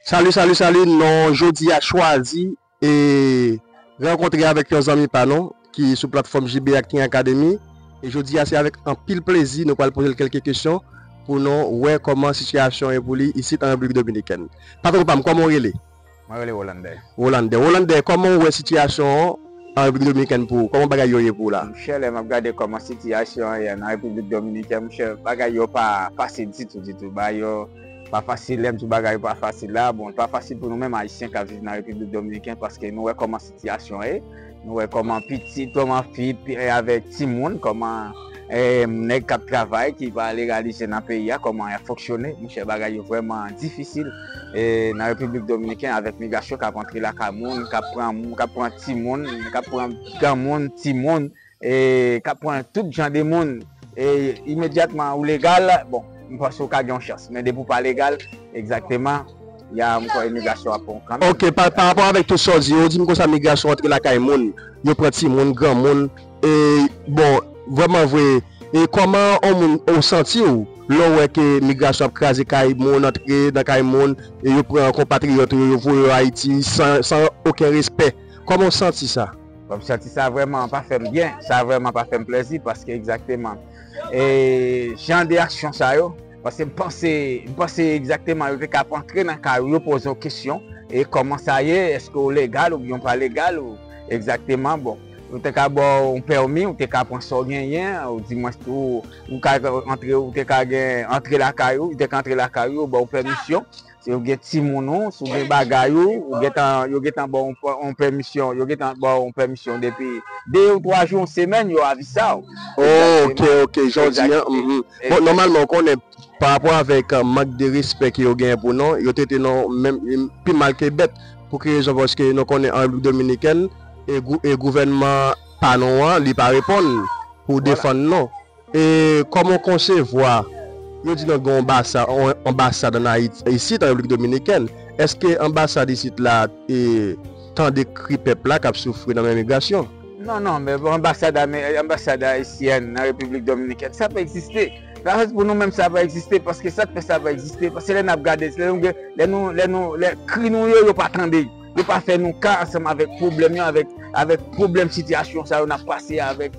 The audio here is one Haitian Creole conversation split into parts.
Salut salut salut non jodi a chwazi e renkontre avèk yon zanmi pa nou ki sou platfòm JB Acting Academy e jodi a se avèk anpil plezi nou pral poze l kelke kesyon pou nou wè kòman sitiyasyon e pou li isit an Repiblik Dominikèn. Patron pam kòman ou rele? Mwen rele Rolande. Rolande, Rolande kòman ou wè sitiyasyon an an Repiblik Dominikèn pou ou? Kòman bagay yo ye pou ou la? Monchè lè map gade kòman sitiyasyon an ye nan Repiblik Dominikèn monchè bagay yo pa fasil ditou ditou bagay yo pa fasil lèm di bagay yo pa fasil la bon pa fasil pou nou menm ayisyen kap viv nan Repiblik Dominikèn paske nou wè kòman Sitiyasyon e nou wè kòman pitit, kòman fi avèk timoun, kòman nèg kap travay ki pa legalize nan peyi a kòman yap fonksyone monchè bagay yo vrèman difisil nan repiblik dominiken avèk migrasyon kap antre lakay moun kap pran moun kap pran timoun kap pran granmoun timoun E kap pran tout jan de moun e imedyatman ou legal bon m panse ou ka gen yon chans men depi ou pa legal egzakteman ya m kwè imigrasyon ap pran w kanmenm. Ok pa rapò avèk tout sa w di yo ou di m konsa migrasyon antre lakay moun yo pran timoun granmoun e bon vrèman vre e kòman on moun ou santi w lè w wè ke migrasyon ap kraze kay moun antre nan kay moun e yo pran konpatriyòt ou yo yo voye yo ayiti san oken respè kòman w santi sa? M santi sa vrèman pa fè m byen, sa vrèman pa fè m plèzi paske egzakteman e jan de aksyon sa yo paske m panse, m panse egzakteman yo te ka ap antre nan kay ou yo poze w kesyon e kòman sa ye, èske w legal oubyen w pa legal ou egzakteman bon yo te ka ba w yon pèmi ou te ka pran sa w genyen ou di mwens tou ou ka antre ou te ka gen antre lakay ou yo te ka antre lakay ou yo ba w pèmisyon. Si ou gen timoun ou, si ou gen bagay ou, ou gentan, yo gentan ba w yon pèmisyon, yo gentan ba w yon pèmisyon depi 2 ou 3 jou, yon semèn, yo avisa w. Ok, ok, jan w di an, mph. Bon, nòmalman ou konnen, pa rapò avèk mank de respè ke yo genyen pou nou, yo trete nou menm pi mal ke bèt. Pou ki rezon? Paske nou konnen an Repiblik Dominikèn, e gouvènman pa nou an, li pa reponn pou defann nou. E kòman w konsevwa, yo di nou gen yon anbasad, anbasad an Ayiti, isit an Repiblik Dominikèn, èske anbasad isit la e tande kri pèp la k ap soufri nan men migrasyon? Non, non, men bon anbasad ame, anbasad ayisyèn nan Repiblik Dominikèn, sa pa egziste. La rèz pou nou menm sa pa egziste, paske sa k fè sa pa egziste, paske lè n ap gade, lè nou gen, lè nou, lè nou, lè kri nou yo, yo pa tande, yo pa fè nou ka ansanm avèk pwoblèm yo, avèk, avèk pwoblèm sitiyasyon sa yo n ap pase avèk.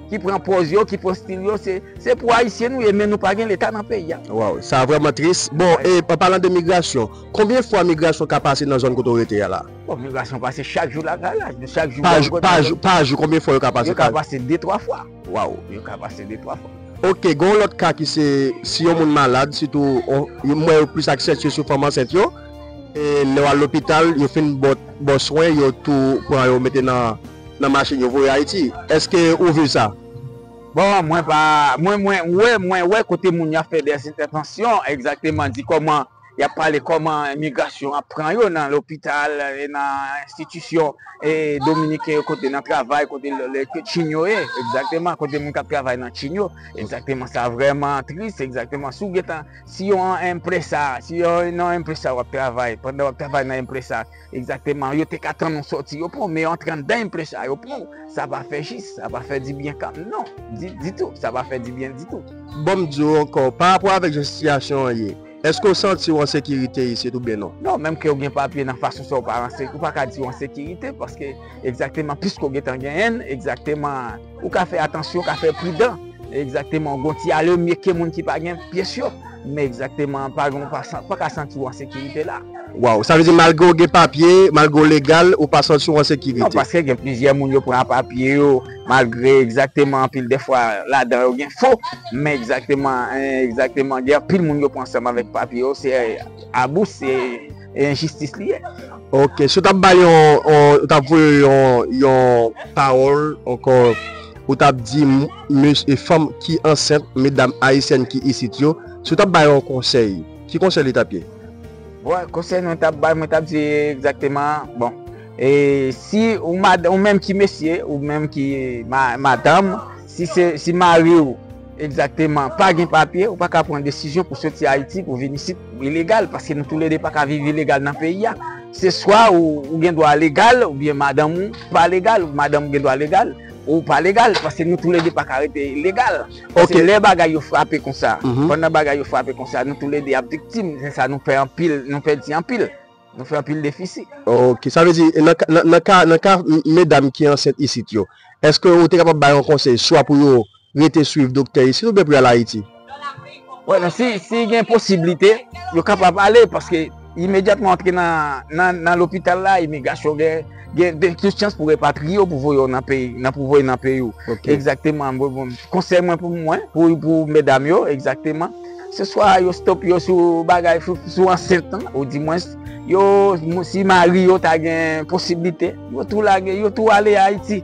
ki pran pòz yo, ki pran stil yo, se pou ayisyen nou ye men nou pa gen leta nan peyi a. Waw, sa vrèman tris. Bon, e an palan de migrasyon, konbyen fwa migrasyon ka pase nan zòn kote w rete a la? Bon, migrasyon pase chak jou lagalaj, nou chak jou bò kote. Pa jou, pa jou, konbyen fwa yo ka pase? Yo ka pase de twa fwa. Waw. Yo ka pase de twa fwa. Ok, gen yon lòt ka ki se, si yon moun malad, sitou, m wè yo plis aksantye sou fanm ansent yo, e lè w al lopital, yo fin bò swen, yo tou pran yo mete nan. nan machine yo voye ayiti eske ou viv sa. Bon mwen pa mwen mwen wè mwen wè kote moun yo ap fè des entèvansyon egzakteman di kòman yap pale kòman migrasyon ap pran yo nan lopital e nan enstitisyon e dominiken yo kote nan travay kote chin yo ye egzakteman kote moun kap travay nan chin yo egzakteman sa vrèman tris egzakteman si w gentan si yon enpresa si yon enpresa wap travay pandan wap travay nan enpresa Exactement, yo te ka tann ou soti yo pou, men antre andan yn plen sa yo pou, sa pa fè jis, sa pa fè di byen kan, non, di, di tou, sa pa fè di byen di tou. Bon m di w ankò, pa rapò avèk jan sitiyasyon an ye, èske w santi w an sekirite isit oubyen non? Non, menm ke w gen papye nan fason sa w pa an, ou pa ka di w an sekirite, paske, exactement, piske w gen tan genyen l, exactement, Ou ka fè atansyon, ou ka fè pridan. Egzakteman, ou gon ti ale mye ke moun ki pa gen pyès yo. Men egzakteman, ou pa gen, ou pa ka santi ou an sekirite la. Waw, sa vle di malgre ou gen papye, malgre ou legal, ou pa santi ou an sekirite? Non, paske gen plizyè moun yo pran papye yo, malgre egzakteman anpil dèfwa ladan yo gen fo. Men egzakteman, egzakteman gen anpil moun yo pran ansanm avèk papye yo, se abou, se. E enjistis li ye. Ok, si w tap bay yon, w tap voye yon, yon pawòl ankò, ou tap di mes, fanm ki ansent, medam ayisyèn ki isit yo, si w tap bay yon konsèy, ki konsèy li tap ye? Bon, konsèy mwen tap bay, mwen tap di egzakteman, bon, e si ou mad, ou menm ki mesye, ou menm ki madanm, si se, si mariw. Egzakteman, pa gen papye, ou pa ka pran desizyon pou soti Ayiti pou vin isit ilegal, paske nou tou le 2 pa ka viv ilegal nan peyi a. Se swa ou gen dwa legal oubyen madanm ou pa legal, ou madanm ou gen dwa legal, ou pa legal, paske nou tou le 2 pa ka rete legal. Paske lè bagay yo frape konsa, pandan bagay yo frape konsa, nou tou le 2 ap viktim, se sa nou pè anpil, nou pèdi anpil, nou fè anpil defisi. Ok, sa vle di, nan ka medam ki ansent isit yo, èske ou te kapab bay yon konsèy swa pou yo rete swiv doktè yo si nou byen pral Ayiti? Wè non si gen posiblite yo kapab ale paske imedyatman antre nan lopital la imigrasyon gen tout chans pou repatriye w pou voye w nan peyi nan pou voye nan peyi w egzakteman konsèy mwen pou mwen pou medam yo egzakteman se swa yo stop yo sou bagay sou ansent lan ou di mwens yo si mari yo ta gen posiblite yo tou lage yo tou ale Ayiti.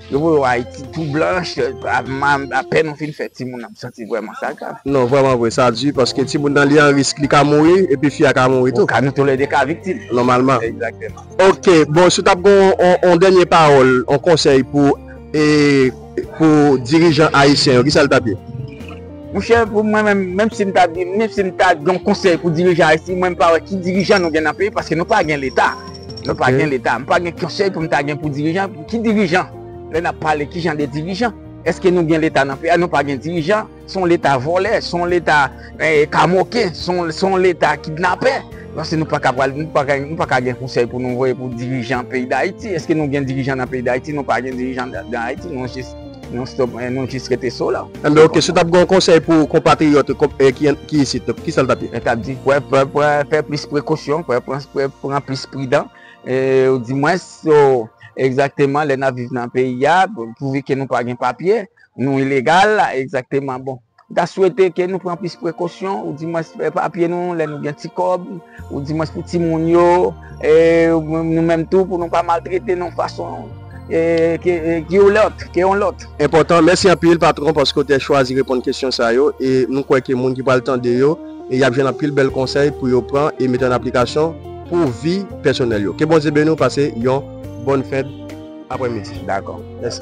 Yo voye w Ayiti tou blanch, apèn ou fin fè timoun nan, m santi vrèman sa grav. Non, vrèman vre, sa di paske timoun nan li an risk, li ka mouri epi fi a ka mouri tou. Nou tou lè 2 ka viktim. Nòmalman. Egzakteman. Ok, bon si w t ap gen yon dènye pawòl, yon konsèy pou dirijan ayisyen yo, ki sa l t ap ye? Monchè pou mwen menm, menm si m ta di, menm si m ta gen yon konsèy pou dirijan Ayiti, mwen m pa wè ki dirijan nou gen nan peyi paske nou pa gen leta. Nou pa gen leta. M pa gen konsèy pou m ta gen pou dirijan. Ki dirijan? Lè n ap pale ki jan de dirijan? Eske nou gen leta nan peyi a? Nou pa gen dirijan. Se yon leta vòlè, se yon leta kamoken, se yon leta kidnapè. Lò se nou pa ka pral, nou pa ka, nou pa ka gen konsèy pou nou voye pou dirijan peyi Dayiti. Eske nou gen dirijan nan peyi Dayiti? Nou pa gen dirijan nan Ayiti. Nou stop men nou jis rete so la. Enben ok, si w tap gen yon konsèy pou konpatriyòt ki isit, ki sa l tap ye? Mwen tap di pran fè plis prekosyon, pran plis pridan, ou di mwens yo egzakteman lè nap viv nan peyi a, pouvi ke nou pa gen papye, nou ilegal egzakteman bon. M ta swete ke nou pran plis prekosyon ou di mwens pou epapye nou lè nou gen ti kòb ou di mwens pou ti moun yo e nou menm tou pou nou pa maltrete nou fason ke yon lòt ke yon lòt. Enpòtan. Mèsi anpil patron paske w te chwazi reponn kesyon sa yo e nou kwè ke moun ki pral tande yo e yap jwenn anpil bèl konsèy pou yo pran e mete an aplikasyon pou vi pèsonèl yo. Ke Bondye beni w pase yon bòn fèt aprè midi. Dakò. Mèsi.